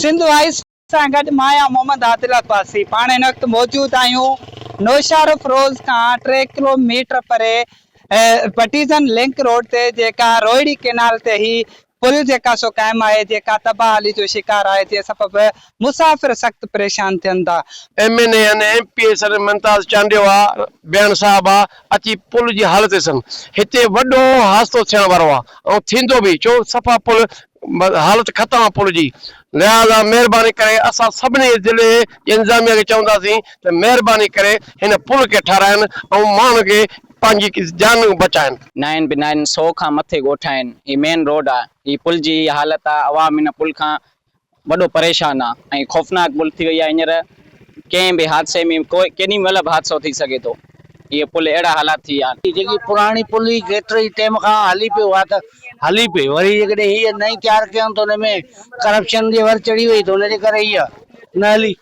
Sindh high school سان گڏ مايا محمد عادل عباسي پاڻ هن وقت موجود آهيون نوشهروف روز کان ٽي ڪلو ميٽر پري بٽيزن لنڪ روڊ تي جيڪا روهڙي ڪينال تي هي پل جيڪا سو قائم آهي جيڪا تباهلي جو شڪار آهي جنهن سبب مسافر سخت پريشان ٿين ٿا. M N A N M P A صدر ممتاز چانڊيو آء بيان صاحب آء اچي پل جي حالت ڏسن هتي وڏو حادثو ٿيڻ وارو آء ۽ ٿيندو به ڇو صفا پل حالت ختم آ پل جي لهذا مهرباني ڪري اسان سڀني ضلعي جي انتظاميه کي چونداسين ته مهرباني ڪري هن پل کي ٺاراهين ۽ ماڻهن کي پنهنجي جان بچائين. نائن به نائن سو کان مٿي ڳوٺائين هي مين روڊ آ هي پل جي هي حالت آ عوام هن پل کان وڏو پريشان آ ۽ خوفناڪ پل ٿي وئي آ هينئر ڪنهن به حادثي ۾ ڪيڏي مهل به حادثو ٿي سگهي ٿو هي پل اهڙا حالات ٿي ويا آن. هي جيڪي پراڻي پل هي ڪيتري ٽيم کان هلي پيو آ ته هلي پئي وري جيڪڏهن هيء نئين تيار ڪيائون ته ان ۾ ڪرپشن جي ور چڙهي وئي ته ان جي ڪري هيء نه هلي.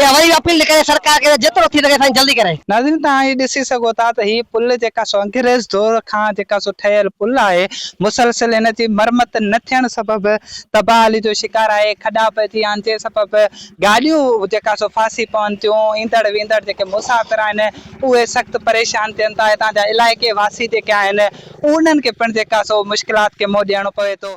اها وري به اپيل ٿي ڪري سرڪار کي ته جيترو ٿي سگهي سائين جلدي ڪري. ناظرين توهان هي ڏسي سگهو ٿا ته هي پل جيڪا سو انگريز دور کان جيڪا سو ٺهيل پل آهي مسلسل هن جي مرمت نه ٿيڻ سبب تباهلي جو شڪار آهي کڏا پئجي آنجي سبب گاڏيون جيڪا سو ڦاسي پون ٿيون ايندڙ ويندڙ جيڪي مسافر آهن اهي سخت پريشان ٿين ٿا هتان جا علائقي واسي جيڪي آهن انهن کي پڻ جيڪا سو مشڪلات کي منهن ڏيڻو پوي ٿو.